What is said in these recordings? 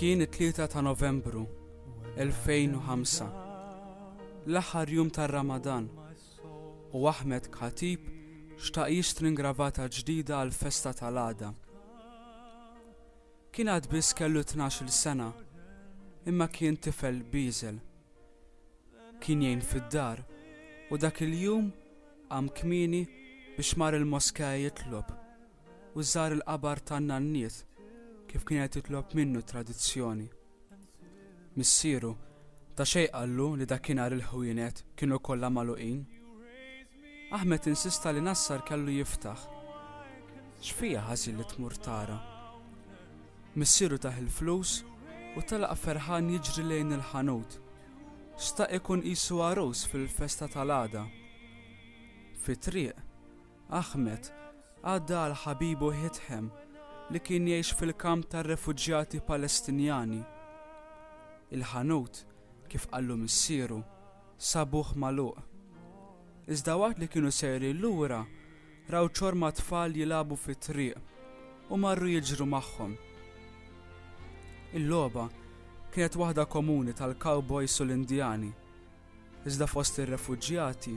Kien it-3 ta' Novembru 2005, l-aħħar jum tar-Ramadan, u Ahmed Khatib xtaq jixtri ngravata ġdida għall-festa tal-għada. Kien għad biss kellu tnax-il sena, imma kien tifel bieżel. Kien jgħin fid-dar u dak il-jum qam kmieni biex mar il-moskea jitlob u żar il-qabar tan-nanniet kif kienet titlob minnu t-tradizzjoni. Missieru ta' xejn qallu li dakinhar il-ħwienet kienu kollha magħluqin. Ahmed insista li Nassar kellu jiftaħ. X'fiha ħażin li tmur tara? Missieru tah il-flus u telaq ferħan jiġri lejn il-ħanut. Xtaq ikun qisu għarus fil-festa tal-għada. Fit-triq, Ahmed għadda għal ħabibu Hitham li kien jgħix fil-kamp tar-refuġjati Palestinjani. Il-ħanut, kif qallu missieru, sabuh magħluq. Iżda waqt li kienu sejrin lura, raw ċorma tfal jilagħbu fit-triq u marru jiġru magħhom. Il-logħba kienet waħda komuni tal-cowboys u l-Indjani, iżda fost ir-refuġjati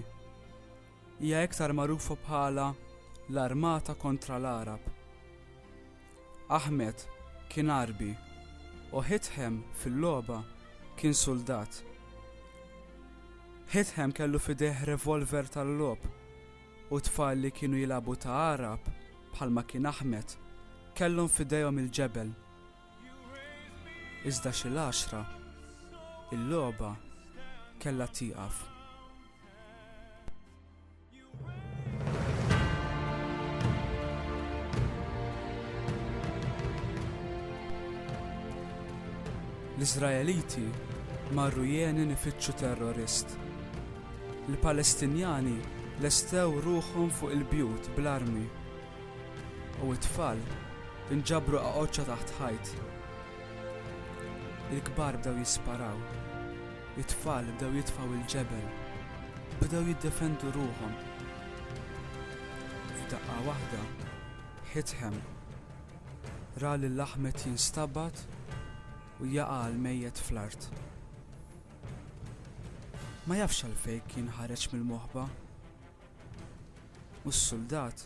Hija iktar magħrufa bħala l-Armata kontra l-Għarab. Ahmed kien Għarbi u Hitham fil-logħba kien suldat. Hitham kellu f'idejh revolver tal-logħob u t-tfal li kienu jilagħbu ta' Għarab bħalma kien Ahmed kellhom f'idejhom il-ġebel. Iżda xi l-għaxra, il-logħba kellha tieqaf. L-Iżraeliti marru jeni nifittxu terrorist. Il-Palestinjani lestew ruħhom fuq il-bjut bl-armi u t-tfal inġabru qaqoċċa taħt ħajt Il-kbar bdew jisparaw. It-tfal bdew jitfgħu l-ġebel. Bdew jiddefendu ruħhom. F'daqqa waħda, Ħitħem ra lil Ahmed jinstabad u jaqa' l-mejjet fl-art. Ma jafx għalfejn kien ħareġ mill-moħba. U s-suldat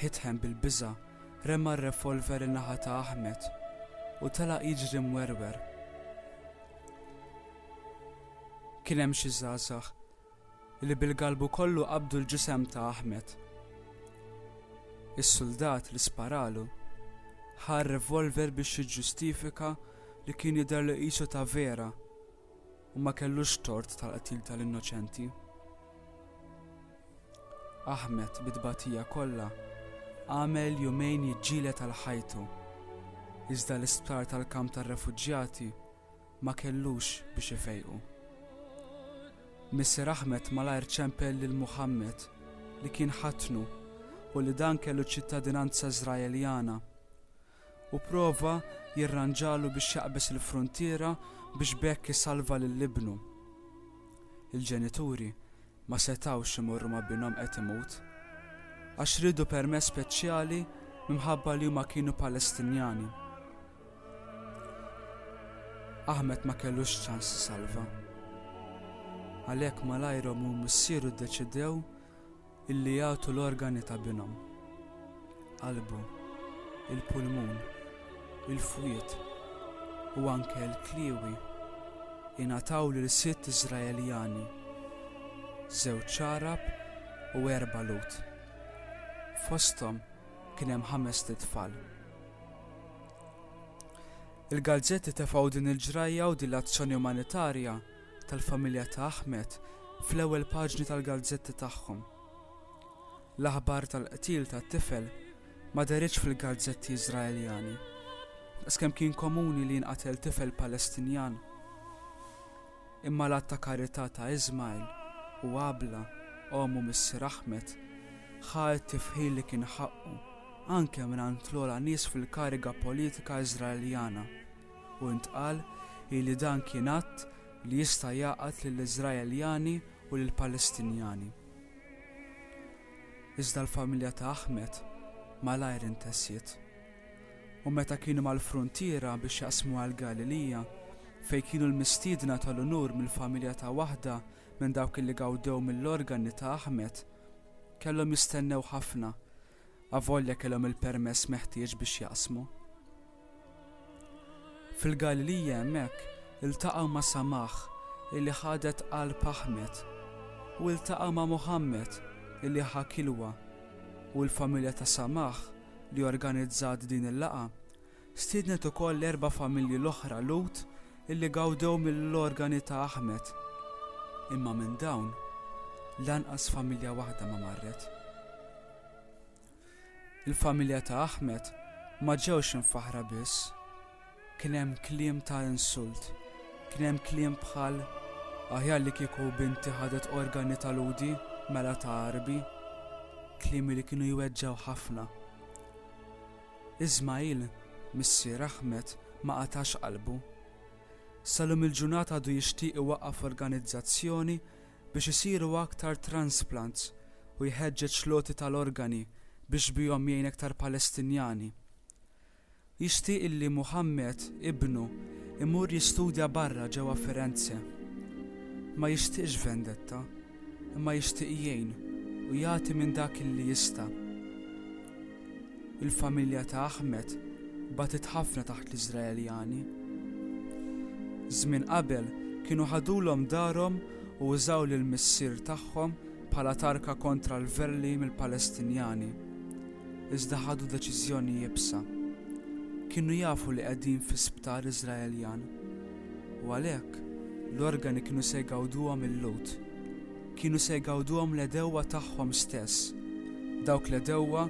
Hitham bil-biża' rema r-revolver in-naħa ta' Ahmed u telaq jiġri mwerwer. Kien hemm xi żgħażagħ li bil-galbu kollu qabdu l-ġisem ta' Ahmed. Is-suldat li sparalu ħa r-revolver biex jiġġustifika li kien jidher li qisu ta' vera U ma kellux tort tal-qtil tal-innoċenti. Ahmed, bit-tbatija kollha, għamel jumejn jiġġieled għal ħajtu, iżda l-isptar tal-kamp tar-refuġjati ma kellux biex ifejqu. Missier Ahmed malajr ċempel lil Muhammad li kien ħatnu u li dan kellu ċittadinanza Żraeljana u pprova jirranġalu biex jaqbeż il-fruntiera biex b'hekk isalva lil ibnu. Il-ġenituri ma setgħux imorru ma' binhom qed imut, għax riedu permess speċjali minħabba li huma kienu Palestinjani. Ahmed ma kellux ċans isalva. Għalhekk malajr ommu u missieru ddeċidew Illi jagħtu l-organi ta' binhom, qalbu, il-pulmun, il-fwied u anke l-kliewi, ingħataw lil sitt Iżraeljani, żewġ għarab u erba' Lhud. Fosthom kien hemm ħamest itfal. Il-gazzetti tefgħu din il-ġrajja u din l-azzjoni umanitarja tal-familja ta' Ahmed fl-ewwel paġni tal-gazzetti tagħhom. L-aħbar tal-qtil tat-tifel ma dehritx fil-gazzetti Iżraeljani, daqskemm kien komuni li jinqatel tifel Palestinjan. Imma l-att ta' karità ta' Ismail u Abla, omm u missier Ahmed, ħa t-tifħir li kien ħaqqu anke mingħand l-ogħla nies fil-kariga politika Iżraeljana. u ntqal li dan kien att li jista' jgħaqqad lill-Iżraeljani u lill-Palestinjani. Iżda l-familja ta' Ahmed malajr intesjiet, u meta kienu mal-fruntiera biex jaqsmu għal Galilija, fejn kienu l-mistiedna tal-unur mill-familja ta' waħda minn dawk li gawdew mill-organi ta' Ahmed, kellhom jistennew ħafna avolja kellhom il-permess meħtieġ biex jaqsmu. Fil-Galilija hemmhekk iltaqgħu ma' Samah illi ħadet qalb Aħmed u iltaqgħu ma' Muħammad illi ħa Kilwa u l-familja ta' Samah li organizzat din il-laqgħa Stiednet ukoll l-erba' familji l-oħra Lhud illi gawdew mill-organi ta' Ahmed. Imma minn dawn, lanqas familja waħda ma marret. Il-familja ta' Ahmed ma ġewx imfaħħra biss. Kien hemm kliem ta' insult. Kien hemm kliem bħal, Aħjar li kieku binti ħadet organi ta' Lhudi mela ta' Għarbi. Kliem li kienu jweġġgħu ħafna. Ismagħil, missier Ahmed, ma qatax qalbu. Sal-lum il-ġurnata għadu jixtieq iwaqqaf organizzazzjoni biex isiru aktar transplants u jħeġġeġ l-għoti tal-organi biex bihom jgħin aktar Palestinjani. Jixtieq illi Muhammad, ibnu, imur jistudja barra ġewwa Firenze. Ma jixtieqx vendetta. imma jixtieq jgħin u jagħti minn dak li jista'. Il-familja ta' Ahmed bagħtet ħafna taħt l-Iżraeljani. Żmien qabel kienu ħadulhom darhom u użaw lil missier tagħhom bħala tarka kontra l-verli mill-Palestinjani, iżda ħadu deċiżjoni iebsa. Kienu jafu li qegħdin fi sptar Iżraeljan. U għalhekk, l-organi kienu se jgawduhom il-Lhud. Kienu se jgawduhom l-għedewwa tagħhom stess, dawk l-għedewwa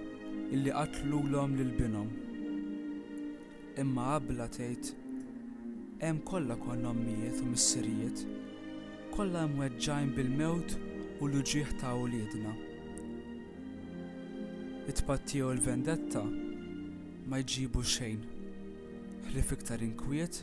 illi qatlulhom lil binhom. Imma Abla tgħid, Hemm kollha konna ommijiet u missirijiet, kollha imweġġgħin bil-mewt u l-uġigħ ta' uliedna. It-tpattija u l-vendetta ma jġibu xejn, ħlief iktar inkwiet,